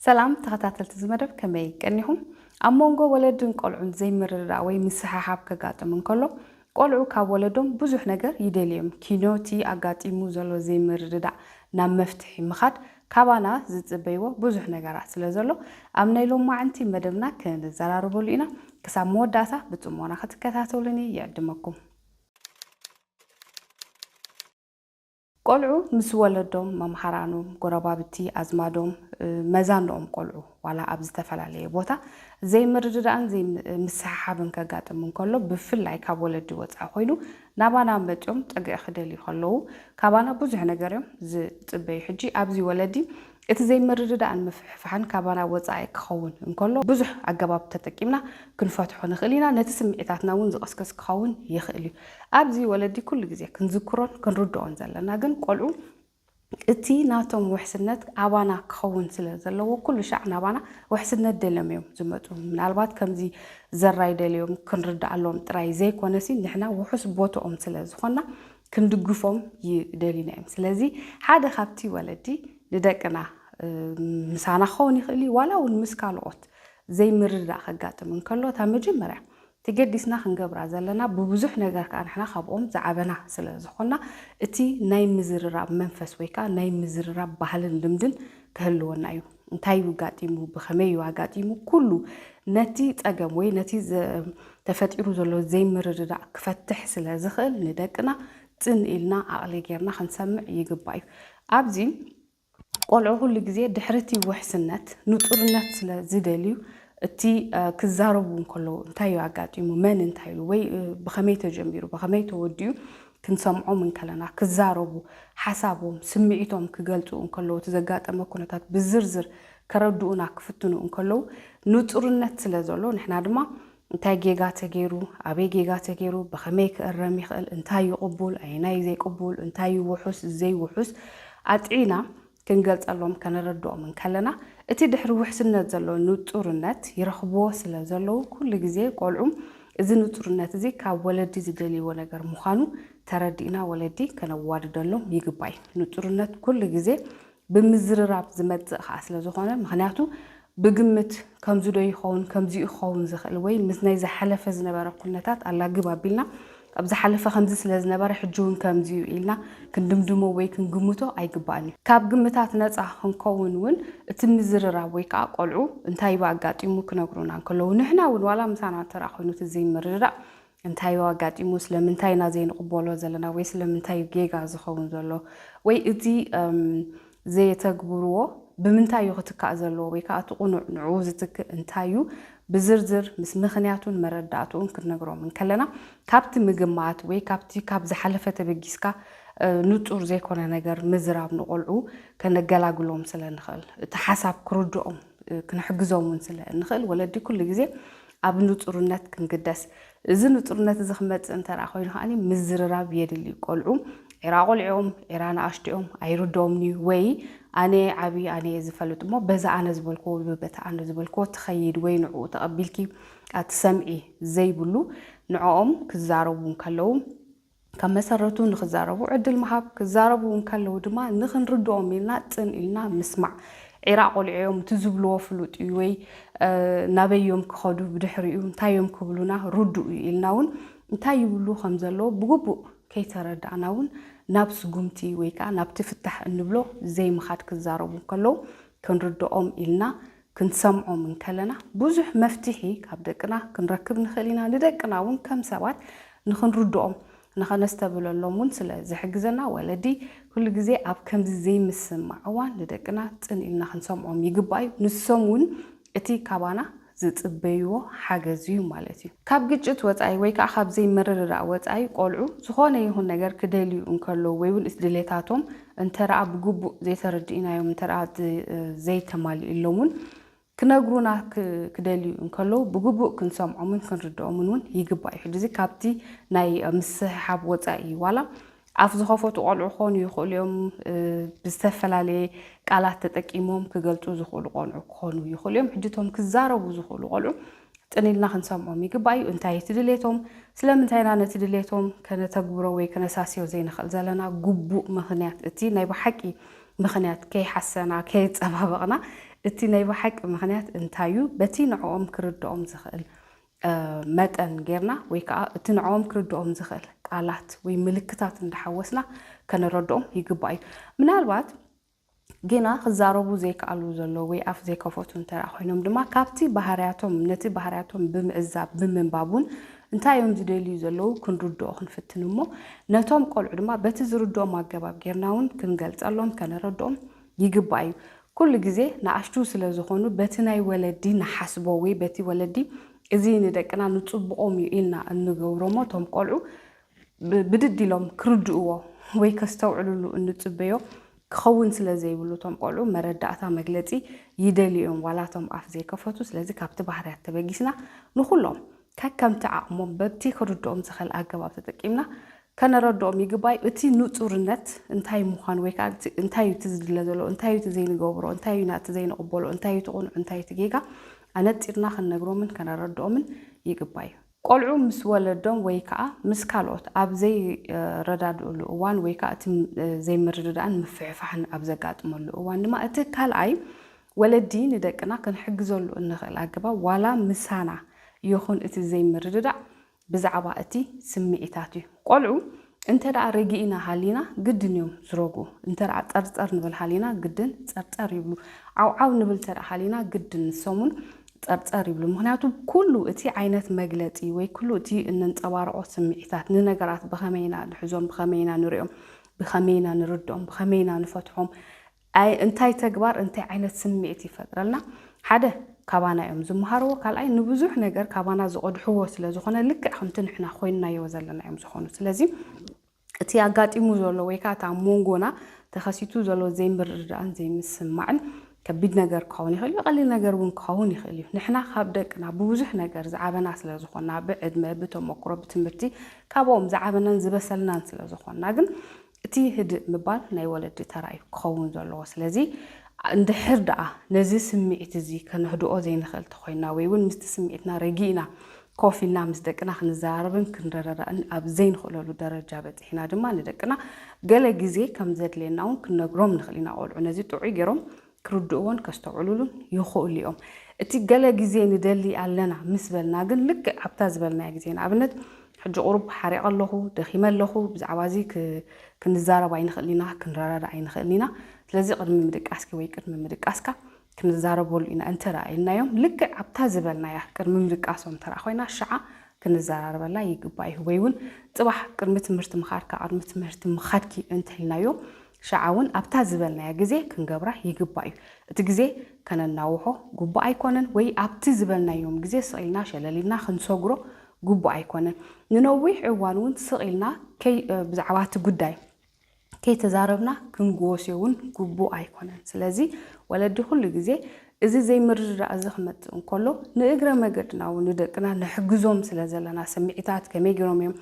ሰላም ተኸታተልቲ እዚ መደብ ከመይ ቀኒኹም? ኣብ ሞንጎ ወለድን ቆልዑን ዘይምርድዳእ ወይ ምስሕሓብ ከጋጥም እንከሎ ቆልዑ ካብ ወለዶም ብዙሕ ነገር ይደልዩ እዮም። ኪኖቲ ኣጋጢሙ ዘሎ ዘይምርድዳእ ናብ መፍትሒ ምኻድ ካባና ዝጽበይዎ ብዙሕ ነገራት ስለ ዘሎ ኣብ ናይ ሎማዕንቲ መደብና ክንዘራረበሉ ኢና። ክሳብ መወዳእታ ብጽሞና ክትከታተሉኒ ይዕድመኩም። ቆልዑ ምስ ወለዶም፣ መምሃራኖም፣ ጎረባብቲ፣ ኣዝማዶም፣ መዛኖኦም ቆልዑ ዋላ ኣብ ዝተፈላለየ ቦታ ዘይምርድዳእን ዘይምስሕሓብን ከጋጥም እንከሎ ብፍላይ ካብ ወለዲ ወጻኢ ኮይኑ ናባና መጽዮም ጥግዒ ክደልዩ ከለዉ ካባና ብዙሕ ነገር እዮም ዝጽበዩ ሕጂ ኣብዚ ወለዲ እቲ ዘይምርድዳእን ምፍሕፋሕን ካባና ወጻኢ ክኸውን እንከሎ ብዙሕ ኣገባብ ተጠቂምና ክንፈትሖ ንኽእል ኢና፣ ነቲ ስምዒታትና እውን ዝቕስቅስ ክኸውን ይኽእል እዩ። ኣብዚ ወለዲ ኩሉ ግዜ ክንዝክሮን ክንርድኦን ዘለና ግን ቆልዑ እቲ ናቶም ውሕስነት ኣባና ክኸውን ስለ ዘለዎ ኩሉ ሻዕ ናባና ውሕስነት ደልዮም እዮም ዝመጹ። ምናልባት ከምዚ ዘራይ ደልዮም ክንርድኣሎም ጥራይ ዘይኮነሲ ንሕና ውሑስ ቦትኦም ስለ ዝኾንና ክንድግፎም ይደልዩና እዮም ስለዚ ሓደ ካብቲ ወለዲ ንደቅና ምሳና ክኸውን ይኽእል እዩ ዋላ እውን ምስ ካልኦት ዘይምርዳእ ከጋጥም እንከሎ እታ መጀመርያ ተገዲስና ክንገብራ ዘለና ብብዙሕ ነገር ከዓ ንሕና ካብኦም ዝዓበና ስለ ዝኾና እቲ ናይ ምዝርራብ መንፈስ ወይ ከዓ ናይ ምዝርራብ ባህልን ልምድን ክህልወና እዩ እንታይ እዩ ኣጋጢሙ፣ ብኸመይ እዩ ኣጋጢሙ፣ ኩሉ ነቲ ጸገም ወይ ነቲ ተፈጢሩ ዘሎ ዘይምርድዳእ ክፈትሕ ስለ ዝኽእል ንደቅና ጽን ኢልና ዓቕሊ ጌርና ክንሰምዕ ይግባእ እዩ። ኣብዚ ቆልዑ ኩሉ ግዜ ድሕሪ እቲ ውሕስነት ንጹርነት ስለ ዝደልዩ እቲ ክዛረቡ እንከለዉ እንታይ እዩ ኣጋጢሙ፣ መን እንታይ ኢሉ ወይ ብኸመይ ተጀሚሩ ብኸመይ ተወዲኡ ክንሰምዖም እንከለና ክዛረቡ፣ ሓሳቦም፣ ስምዒቶም ክገልጹ እንከለዉ፣ እቲ ዘጋጠመ ኩነታት ብዝርዝር ከረድኡና ክፍትኑ እንከለዉ ንጹርነት ስለ ዘሎ ንሕና ድማ እንታይ ጌጋ ተገይሩ፣ ኣበይ ጌጋ ተገይሩ፣ ብኸመይ ክእረም ይኽእል፣ እንታይ እዩ ቅቡል፣ ኣየናይ እዩ ዘይቅቡል፣ እንታይ እዩ ውሑስ፣ ዘይውሑስ ኣጥዒና ክንገልጸሎም ከነረድኦም እንከለና እቲ ድሕሪ ውሕስነት ዘሎ ንጹርነት ይረኽብዎ ስለ ዘለዉ ኩሉ ግዜ ቆልዑ እዚ ንጹርነት እዚ ካብ ወለዲ ዝደልይዎ ነገር ምዃኑ ተረዲእና ወለዲ ከነዋድደሎም ይግባይ ንጹርነት ኩሉ ግዜ ብምዝርራብ ዝመጽእ ከኣ ስለ ዝኾነ ምኽንያቱ ብግምት ከምዚዶ ይኸውን ከምዚ'ዩ ክኸውን ዝኽእል ወይ ምስ ናይ ዝሓለፈ ዝነበረ ኩነታት ኣላግብ ኣቢልና ኣብ ዝሓለፈ ከምዚ ስለ ዝነበረ ሕጂ'ውን ከምዚ'ዩ ኢልና ክንድምድሞ ወይ ክንግምቶ ኣይግባእን'ዩ። ካብ ግምታት ነጻ ክንከውን'ውን እቲ ምዝርራብ ወይ ከኣ ቆልዑ እንታይ'ባ ኣጋጢሙ ክነግሩና እንከለዉ ንሕና'ውን ዋላ ምሳና ተራ ኮይኑ እቲ ዘይምርድዳእ እንታይ እዩ ኣጋጢሙ? ስለምንታይ ኢና ዘይንቕበሎ ዘለና? ወይ ስለምንታይ እዩ ጌጋ ዝኸውን ዘሎ? ወይ እቲ ዘየተግብርዎ ብምንታይ እዩ ክትካእ ዘለዎ? ወይ ከኣ እቲ ቅኑዕ ንዕኡ ዝትክእ እንታይ እዩ? ብዝርዝር ምስ ምኽንያቱን መረዳእትኡን ክንነግሮም እንከለና ካብቲ ምግማት ወይ ካብቲ ካብ ዝሓለፈ ተበጊስካ ንጹር ዘይኮነ ነገር ምዝራብ ንቆልዑ ከነገላግሎም ስለ እንኽእል እቲ ሓሳብ ክርድኦም ክንሕግዞም እውን ስለ እንኽእል ወለዲ ኩሉ ግዜ ኣብ ንጹርነት ክንግደስ፣ እዚ ንጹርነት እዚ ክመጽእ እንተ ኮይኑ ከኣ ምዝርራብ የድሊ እዩ። ቆልዑ ዒራ ቆልዕኦም፣ ዒራ ንኣሽቱኦም ኣይርድኦምን እዩ። ወይ ኣነ ዓቢ ኣነ እየ ዝፈልጥ እሞ በዛ ኣነ ዝበልክዎ ወይ በታ ኣነ ዝበልክዎ ትኸይድ ወይ ንዕኡ ተቐቢልኪ ኣትሰምዒ ዘይብሉ ንዕኦም ክዛረቡ እንከለዉ ካብ መሰረቱ ንክዛረቡ ዕድል ምሃብ፣ ክዛረቡ እንከለዉ ድማ ንክንርድኦም ኢልና ጽን ኢልና ምስማዕ። ዒራ ቆሊዖም እቲ ዝብልዎ ፍሉጥ እዩ ወይ ናበይ እዮም ክኸዱ ብድሕሪኡ እንታይ እዮም ክብሉና ርዱእ እዩ ኢልና እውን እንታይ ይብሉ ከም ዘለዉ ብግቡእ ከይተረዳእና እውን ናብ ስጉምቲ ወይ ከኣ ናብቲ ፍታሕ እንብሎ ዘይምኻድ ክዛረቡ እንከለዉ ክንርድኦም ኢልና ክንሰምዖም እንከለና ብዙሕ መፍትሒ ካብ ደቅና ክንረክብ ንኽእል ኢና፣ ንደቅና እውን ከም ሰባት ንኽንርድኦም ንኸነስተብህለሎም እውን ስለ ዝሕግዘና ወለዲ ኩሉ ግዜ ኣብ ከምዚ ዘይምስምማዕ እዋን ንደቅና ጽን ኢልና ክንሰምዖም ይግባእ እዩ። ንሶም እውን እቲ ካባና ዝጽበይዎ ሓገዝ እዩ ማለት እዩ። ካብ ግጭት ወጻኢ ወይ ከኣ ካብ ዘይምርድዳእ ወጻኢ ቆልዑ ዝኾነ ይኹን ነገር ክደልዩ እንከለዉ ወይ እውን እቲ ድሌታቶም እንተደኣ ብግቡእ ዘይተረዲእናዮም እንተደኣ ዘይተማሊኡሎም'ውን ክነግሩና ክደልዩ እንከለዉ ብግቡእ ክንሰምዖምን ክንርድኦምን እውን ይግባእ እዩ። ሕጂ'ዚ ካብቲ ናይ ምስሕሓብ ወጻኢ እዩ። ዋላ ኣፍ ዝኸፈቱ ቆልዑ ክኾኑ ይኽእሉ እዮም፣ ብዝተፈላለየ ቃላት ተጠቂሞም ክገልጹ ዝኽእሉ ቆልዑ ክኾኑ ይኽእሉ እዮም። ሕጂ እቶም ክዛረቡ ዝኽእሉ ቆልዑ ጽን ኢልና ክንሰምዖም ይግባእ እዩ። እንታይ እዩ እቲ ድሌቶም? ስለምንታይ ኢና ነቲ ድሌቶም ከነተግብሮ ወይ ከነሳስዮ ዘይንኽእል ዘለና ግቡእ ምኽንያት? እቲ ናይ ብሓቂ ምኽንያት ከይሓሰና፣ ከየጸባበቕና እቲ ናይ ብሓቂ ምኽንያት እንታይ እዩ? በቲ ንዕኦም ክርድኦም ዝኽእል መጠን ጌርና ወይ ከዓ እቲ ንዕኦም ክርድኦም ዝኽእል ቃላት ወይ ምልክታት እንዳሓወስና ከነረድኦም ይግባእ እዩ። ምናልባት ግና ክዛረቡ ዘይክኣሉ ዘለው ወይ ኣፍ ዘይከፈቱ እንተድኣ ኮይኖም ድማ ካብቲ ባህርያቶም ነቲ ባህርያቶም ብምዕዛብ ብምንባብ እውን እንታይ እዮም ዝደልዩ ዘለው ክንርድኦ ክንፍትን እሞ ነቶም ቆልዑ ድማ በቲ ዝርድኦም ኣገባብ ጌርና እውን ክንገልፀሎም ከነረድኦም ይግባእ እዩ። ኩሉ ግዜ ንኣሽቱ ስለ ዝኾኑ በቲ ናይ ወለዲ ንሓስቦ ወይ በቲ ወለዲ እዚ ንደቅና ንፅቡቖም እዩ ኢልና እንገብሮሞ እቶም ቆልዑ ብድድ ኢሎም ክርድእዎ ወይ ከስተውዕልሉ እንጽበዮ ክኸውን ስለ ዘይብሉ እቶም ቆልዑ መረዳእታ መግለጺ ይደልዩ እዮም ዋላ እቶም ኣፍ ዘይከፈቱ ስለዚ ካብቲ ባህርያት ተበጊስና ንኹሎም ከከምቲ ዓቕሞም በቲ ክርድኦም ዝኸል ኣገባብ ተጠቂምና ከነረድኦም ይግባይ እቲ ንጹርነት እንታይ ምዃኑ ወይ ከዓ እንታይ እዩ እቲ ዝድለ ዘሎ እንታይ እዩ እቲ ዘይንገብሮ እንታይ እዩ ናቲ ዘይንቕበሎ እንታይ እዩ እቲ ቁኑዕ እንታይ እቲ ጌጋ ኣነጺርና ክንነግሮምን ከነረድኦምን ይግባይ እዩ ቆልዑ ምስ ወለዶም ወይ ከኣ ምስ ካልኦት ኣብ ዘይረዳድእሉ እዋን ወይ ከኣ እቲ ዘይምርድዳእን ምፍሕፋሕን ኣብ ዘጋጥመሉ እዋን ድማ እቲ ካልኣይ ወለዲ ንደቅና ክንሕግዘሉ እንኽእል ኣገባብ ዋላ ምሳና ይኹን እቲ ዘይምርድዳእ ብዛዕባ እቲ ስምዒታት እዩ። ቆልዑ እንተደኣ ረጊእና ሃሊና ግድን እዮም ዝረግኡ፣ እንተደኣ ጸርጸር ንብል ሃሊና ግድን ጸርጸር ይብሉ፣ ዓውዓው ንብል እንተደኣ ሃሊና ግድን ንሶም'ውን ጸርጸር ይብሉ። ምኽንያቱ ኩሉ እቲ ዓይነት መግለጺ ወይ ኩሉ እቲ እነንጸባርቖ ስምዒታት ንነገራት ብኸመይ ኢና ንሕዞም፣ ብኸመይ ኢና ንርእዮም፣ ብኸመይ ኢና ንርድኦም፣ ብኸመይ ኢና ንፈትሖም፣ ኣይ እንታይ ተግባር እንታይ ዓይነት ስምዒት ይፈጥረልና ሓደ ካባና እዮም ዝመሃርዎ ካልኣይ ንብዙሕ ነገር ካባና ዝቐድሕዎ ስለ ዝኾነ ልክዕ ከምቲ ንሕና ኮይንናዮ ዘለና እዮም ዝኾኑ ስለዚ እቲ ኣጋጢሙ ዘሎ ወይ ከዓ እቲ ኣብ ሞንጎና ተኸሲቱ ዘሎ ዘይምርድዳእን ዘይምስምማዕን ከቢድ ነገር ክኸውን ይኽእል እዩ ቀሊል ነገር እውን ክኸውን ይኽእል እዩ ንሕና ካብ ደቅና ብብዙሕ ነገር ዝዓበና ስለ ዝኾና ብዕድመ ብተሞክሮ ብትምህርቲ ካብኦም ዝዓበናን ዝበሰልናን ስለ ዝኾና ግን እቲ ህድእ ምባል ናይ ወለዲ ተራ እዩ ክኸውን ዘለዎ። ስለዚ እንድሕር ደኣ ነዚ ስምዒት እዚ ከነህድኦ ዘይንኽእል ተኾይንና ወይ እውን ምስቲ ስምዒትና ረጊእና ኮፍ ኢልና ምስ ደቅና ክንዘራረብን ክንረዳዳእን ኣብ ዘይንኽእለሉ ደረጃ በጺሕና ድማ ንደቅና ገለ ግዜ ከም ዘድልየና እውን ክንነግሮም ንኽእል ኢና። ቆልዑ ነዚ ጥዑይ ገይሮም ክርድእዎን ከስተውዕሉሉን ይኽእሉ እዮም። እቲ ገለ ግዜ ንደሊ ኣለና ምስ በልና ግን ልክዕ ኣብታ ዝበልናያ ግዜ ንኣብነት ሕጂ ቁሩብ ሓሪቐ ኣለኹ፣ ደኺመ ኣለኹ፣ ብዛዕባ እዚ ክንዛረብ ኣይንኽእልን ኢና፣ ክንረዳዳእ ኣይንኽእልን ኢና፣ ስለዚ ቅድሚ ምድቃስኪ ወይ ቅድሚ ምድቃስካ ክንዛረበሉ ኢና እንተ ደኣ ኢልናዮም ልክዕ ኣብታ ዝበልናያ ቅድሚ ምድቃሶም እንተ ደኣ ኮይና ሽዓ ክንዘራረበላ ይግባእ እዩ። ወይ እውን ጽባሕ ቅድሚ ትምህርቲ ምኻድካ ቅድሚ ትምህርቲ ምኻድኪ እንተ ኢልናዮ ሽዓውን ኣብታ ዝበልናያ ግዜ ክንገብራ ይግባእ እዩ። እቲ ግዜ ከነናውሖ ግቡእ ኣይኮነን ወይ ኣብቲ ዝበልናዮም ግዜ ስቕ ኢልና ሸለል ኢልና ክንሰግሮ ግቡእ ኣይኮነን። ንነዊሕ እዋን እውን ስቕ ኢልና ብዛዕባ እቲ ጉዳይ ከይተዛረብና ክንጎስዮ እውን ግቡእ ኣይኮነን። ስለዚ ወለዲ ኩሉ ግዜ እዚ ዘይምርድዳእ እዚ ክመጽእ እንከሎ ንእግረ መገድና'ውን ንደቅና ንሕግዞም ስለ ዘለና ስምዒታት ከመይ ጌሮም እዮም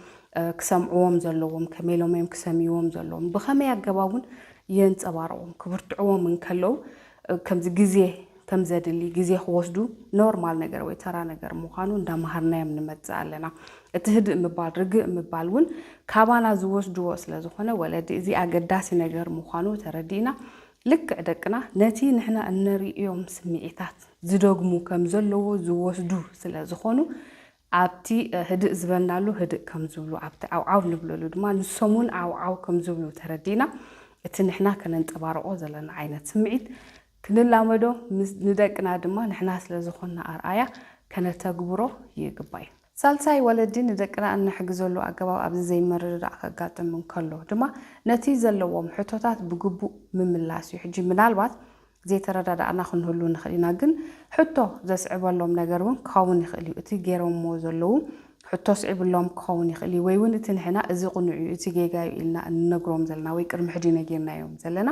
ክሰምዕዎም ዘለዎም፣ ከመይ ኢሎም እዮም ክሰምይዎም ዘለዎም፣ ብኸመይ ኣገባብ እውን የንጸባርቑም ክብርትዕዎም እንከለው ከምዚ ግዜ ከም ዘድሊ ግዜ ክወስዱ ኖርማል ነገር ወይ ተራ ነገር ምዃኑ እንዳመሃርናዮም ንመጽእ ኣለና። እቲ ህድእ ምባል ርግእ ምባል እውን ካባና ዝወስድዎ ስለ ዝኾነ ወለዲ እዚ ኣገዳሲ ነገር ምዃኑ ተረዲእና ልክዕ ደቅና ነቲ ንሕና እነርእዮም ስምዒታት ዝደግሙ ከም ዘለዎ ዝወስዱ ስለ ዝኾኑ፣ ኣብቲ ህድእ ዝበልናሉ ህድእ ከም ዝብሉ፣ ኣብቲ ዓውዓው ንብለሉ ድማ ንሶም'ውን ዓውዓው ከም ዝብሉ ተረዲእና፣ እቲ ንሕና ከነንጸባርቖ ዘለና ዓይነት ስምዒት ክንላመዶ፣ ንደቅና ድማ ንሕና ስለ ዝኾንና ኣርኣያ ከነተግብሮ ይግባይ። ሳልሳይ፣ ወለዲ ንደቅና እነሕግዘሉ ኣገባብ ኣብዚ ዘይምርድዳእ ከጋጥም እንከሎ ድማ ነቲ ዘለዎም ሕቶታት ብግቡእ ምምላስ እዩ። ሕጂ ምናልባት ዘይተረዳዳእና ክንህሉ ንኽእል ኢና፣ ግን ሕቶ ዘስዕበሎም ነገር እውን ክኸውን ይኽእል እዩ። እቲ ገይሮምዎ ዘለዉ ሕቶ ኣስዒብሎም ክኸውን ይኽእል እዩ፣ ወይ እውን እቲ ንሕና እዚ ቅኑዕ እዩ፣ እቲ ጌጋ እዩ ኢልና እንነግሮም ዘለና ወይ ቅድሚ ሕጂ ነጊርናዮም ዘለና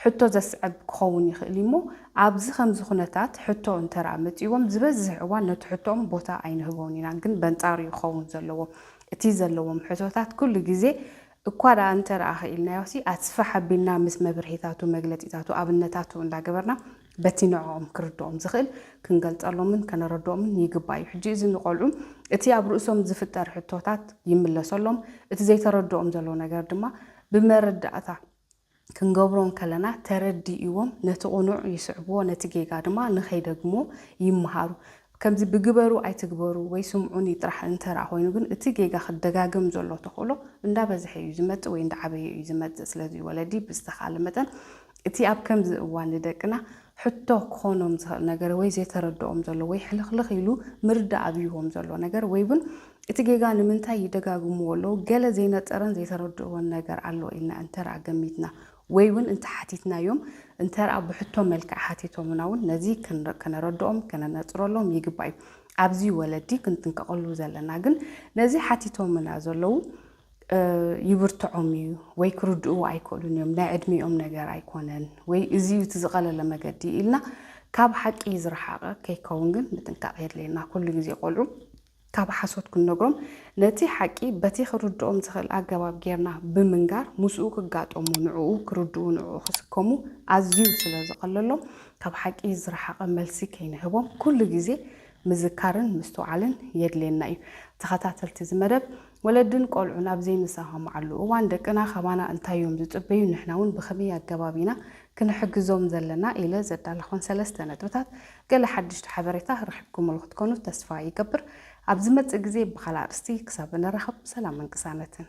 ሕቶ ዘስዕብ ክኸውን ይኽእል እዩሞ፣ ኣብዚ ከምዚ ኩነታት ሕቶ እንተርኣ መጺእዎም ዝበዝሕ እዋን ነቲ ሕቶኦም ቦታ ኣይንህቦን ኢና፣ ግን በንጻሩ እዩ ክኸውን ዘለዎ። እቲ ዘለዎም ሕቶታት ኩሉ ግዜ እኳ ድኣ እንተርኣ ክኢልናዮሲ ኣስፍሕ ኣቢልና ምስ መብርሂታቱ፣ መግለጺታቱ፣ ኣብነታቱ እንዳገበርና በቲ ንዕኦም ክርድኦም ዝኽእል ክንገልጸሎምን ከነረድኦምን ይግባእ እዩ። ሕጂ እዚ ንቆልዑ እቲ ኣብ ርእሶም ዝፍጠር ሕቶታት ይምለሰሎም፣ እቲ ዘይተረድኦም ዘሎ ነገር ድማ ብመረዳእታ፣ ክንገብሮ እንከለና ተረዲእዎም ነቲ ቕኑዕ ይስዕብዎ ነቲ ጌጋ ድማ ንኸይደግምዎ ይመሃሩ። ከምዚ ብግበሩ ኣይትግበሩ ወይ ስምዑኒ ጥራሕ እንተድኣ ኮይኑ ግን እቲ ጌጋ ክደጋገም ዘሎ ተኽእሎ እንዳበዝሐ እዩ ዝመጽእ ወይ እንዳዓበየ እዩ ዝመጽእ። ስለዚ ወለዲ ብዝተኻእለ መጠን እቲ ኣብ ከምዚ እዋን ንደቅና ሕቶ ክኾኖም ዝኸእል ነገር ወይ ዘይተረድኦም ዘሎ ወይ ሕልኽልኽ ኢሉ ምርዳእ ኣብይዎም ዘሎ ነገር ወይ ውን እቲ ጌጋ ንምንታይ ይደጋግምዎ ኣለዉ ገለ ዘይነጸረን ዘይተረድእዎን ነገር ኣሎ ኢልና እንተርኣ ገሚትና ወይ ውን እንተሓቲትናዮም እንተርኣ ብሕቶ መልክዕ ሓቲቶምና ውን ነዚ ከነረድኦም ከነነጽረሎም ይግባእ እዩ ኣብዚ ወለዲ ክንጥንቀቐሉ ዘለና ግን ነዚ ሓቲቶምና ዘለዉ ይብርትዖም እዩ ወይ ክርድእዎ ኣይክእሉን እዮም ናይ ዕድሚኦም ነገር ኣይኮነን ወይ እዚ እዩ እቲ ዝቐለለ መገዲ ኢልና ካብ ሓቂ ዝረሓቐ ከይከውን ግን ምጥንቃቕ የድልየና ኩሉ ግዜ ቆልዑ ካብ ሓሶት ክንነግሮም ነቲ ሓቂ በቲ ክርድኦም ዝኽእል ኣገባብ ጌርና ብምንጋር ምስኡ ክጋጠሙ ንዕኡ ክርድኡ ንዕኡ ክስከሙ ኣዝዩ ስለ ዝቐለሎም ካብ ሓቂ ዝረሓቐ መልሲ ከይንህቦም ኩሉ ግዜ ምዝካርን ምስትውዓልን የድልየና እዩ ተኸታተልቲ እዚ መደብ ወለድን ቆልዑን ኣብ ዘይንሰማማዓሉ እዋን ደቅና ካባና እንታይ እዮም ዝጽበዩን ንሕና እውን ብኸመይ ኣገባብ ኢና ክንሕግዞም ዘለና ኢለ ዘዳለኾን ሰለስተ ነጥብታት ገለ ሓድሽቲ ሓበሬታ ረኺብኩምሉ ክትኮኑ ተስፋ ይገብር። ኣብ ዝመጽእ ግዜ ብኻልእ ኣርእስቲ ክሳብ እንራኸብ ሰላምን ቅሳነትን።